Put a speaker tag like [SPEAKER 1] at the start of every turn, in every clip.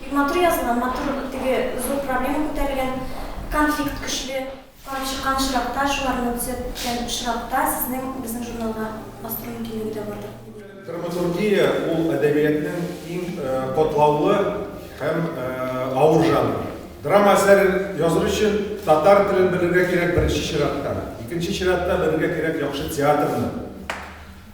[SPEAKER 1] Бик матур язылган, матур теге зур проблема күтәрелгән, конфликт көчле. Карап чыккан очракта, шуларны төзәтеп беткән очракта сезнең безнең журналга бастыру мөмкинлеге дә бардыр. Драматургия
[SPEAKER 2] ул әдәбиятның иң катлаулы һәм авыр жанры. Драма әсәре языр өчен татар телен белергә кирәк беренче чиратта. Икенче чиратта белергә кирәк яхшы театрны.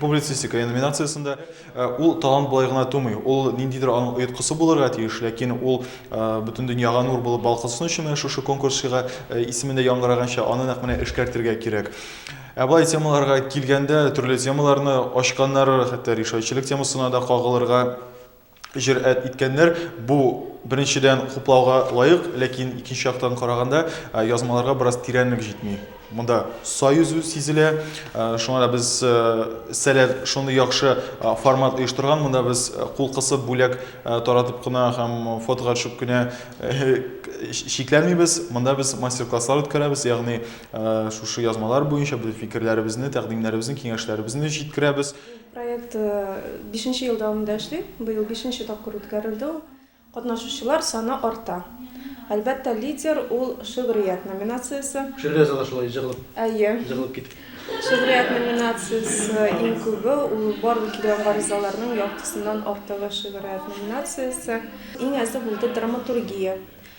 [SPEAKER 3] Публицистика номинациясендә ул талант болай гына тумый. Ул ниндидер аның оеткысы булырга тиеш, ләкин ул бөтен дөньяга нур булып балкысын өчен менә шушы конкурс чыга. Исемендә яңгыраганча, аны нәкъ менә эшкәртергә кирәк. Ә болай темаларга килгәндә, төрле темаларны ачканнары, хәтта решающийлек темасына да кагылырга җөрьәт иткәннәр. Бу, беренчедән, хуплауга лаек, ләкин икенче яктан караганда, язмаларга бераз тирәнлек җитми. Монда сай узу сизелә. Шуңа да без сәләт шундый яхшы формат оештырган. Монда без кул кысып, бүләк таратып кына һәм фотога төшеп кенә чикләнмибез. Монда без мастер-класслар үткәрәбез, ягъни шушы язмалар буенча без фикерләребезне, тәкъдимнәребезне, киңәшләребезне җиткерәбез. Проект
[SPEAKER 4] бишенче ел дәвамында эшли. Быел бишенче тапкыр үткәрелде ул. Катнашучылар саны арта. Әлбәттә, лидер, ул шигърият номинациясе. Шигърият залы шулай
[SPEAKER 5] җыгылып, Әйе. җыгылып китте. Шигърият
[SPEAKER 4] номинациясе иң күбе, ул барлык килгән гаризаларның яртысыннан артыгы шигърият номинациясе. Иң әзе булды драматургия.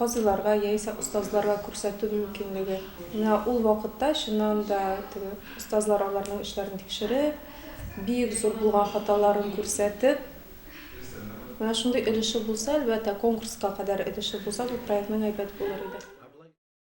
[SPEAKER 4] казыйларга яисә остазларга күрсәтү мөмкинлеге. Менә ул вакытта, чыннан да, теге остазлар аларның эшләрен тикшереп, бик зур булган хаталарын күрсәтеп, менә шундый өлеше булса, әлбәттә, конкурска кадәр өлеше булса, бу проектның әйбәт булыр иде.